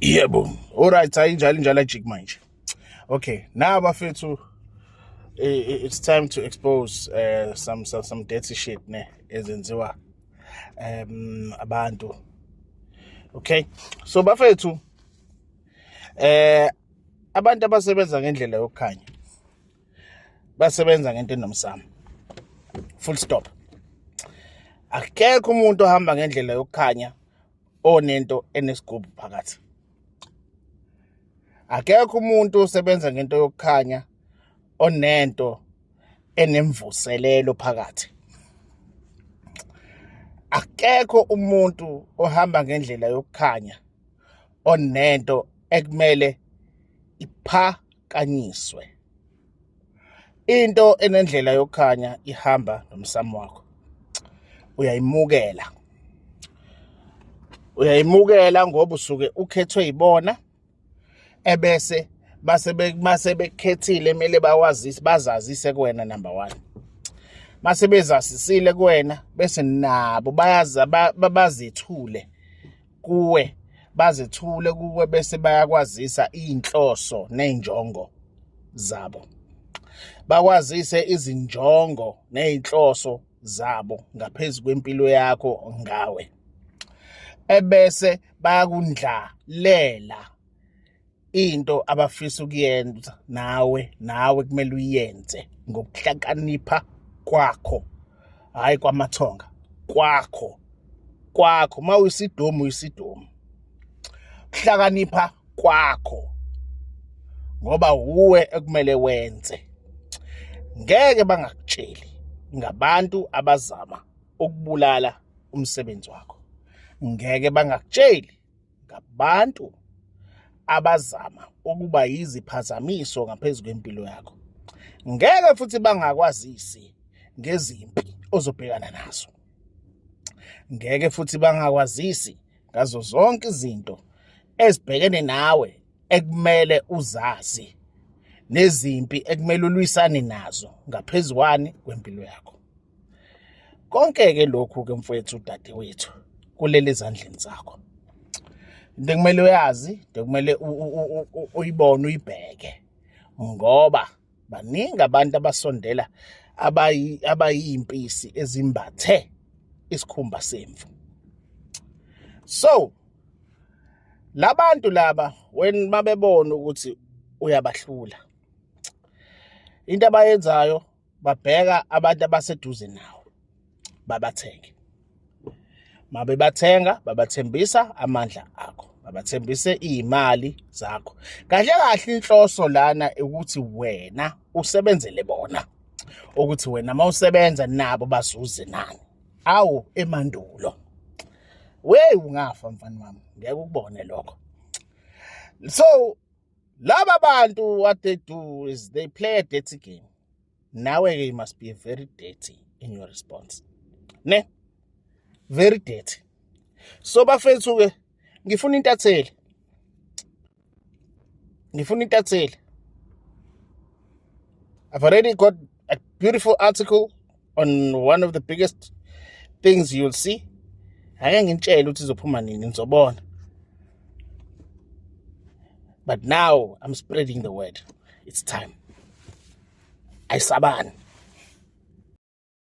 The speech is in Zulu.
yebo alright hayi njalo njalo ajik manje okay now bafethu it's time to expose uh, some, some some dirty shit ne ezenziwa um abantu okay so bafethu eh abantu abasebenza ngendlela yokukhanya basebenza ngento enomsamo full stop akekho umuntu ohamba ngendlela yokukhanya onento enesigubhu phakathi akekho umuntu osebenza ngento yokukhanya onento enemvuselelo phakathi akekho umuntu ohamba ngendlela yokukhanya onento ekumele ipha kanyiswe into enendlela yokukhanya ihamba nomsamo wakho uyayimukela uyayimukela ngoba usuke ukhethwe yibona ebese base base bekhethile kumele bakwazise bazazise kuwena number 1 mase bezasisile kuwena bese nabo bayaza bazethule kuwe bazethule kuwe bese bayakwazisa inhloso nezinjongo zabo bakwazise izinjongo nezinhloso zabo ngaphezulu kwempilo yakho ngawe ebese bayakundlalela into abafisa ukuyenza nawe nawe kumele uyenze ngokuhlakanipha kwakho hayi kwamathonga kwakho kwakho uma uyisidomu uyisidomu kuhlakanipha kwakho ngoba wuwe ekumele wenze ngeke bangakutsheli ngabantu abazama ukubulala umsebenzi wakho ngeke bangakutsheli ngabantu abazama ukuba yiziphazamiso ngaphezu kwempilo yakho ngeke futhi bangakwazisi ngezimpi ozobhekana nazo ngeke futhi bangakwazisi ngazo zonke izinto ezibhekene nawe ekumele uzazi nezimpi ekumele ulwisane nazo ngaphezukwani kwempilo yakho konke-ke lokhu-ke mfowethu udadewethu kulele ezandleni zakho into ekumele uyazi into ekumele uyibone uyibheke ngoba baningi abantu abasondela abayimpisi ezimbathe isikhumba semvu so labantu laba when mabebona ukuthi uyabahlula into abayenzayo babheka abantu abaseduze nawo babathenge mabebathenga babathembisa amandla akho babathembise iy'mali zakho kahle kahle inhloso lana ukuthi wena usebenzele bona ukuthi wena uma usebenza nabo bazuze nani awu emandulo weyi ungafa mfana wami ngeke ukubone lokho so laba bantu what they do is they play a dirty game nawe ke you must be very dirty in your response ne very dirty so bafethu ke ngifuna intatheli ngifuna intatheli I've already got a beautiful article on one of the biggest things you'll see ake ngintshele ukuthi izophuma nini nizobona but now i'm spreading the word it's time ayisabani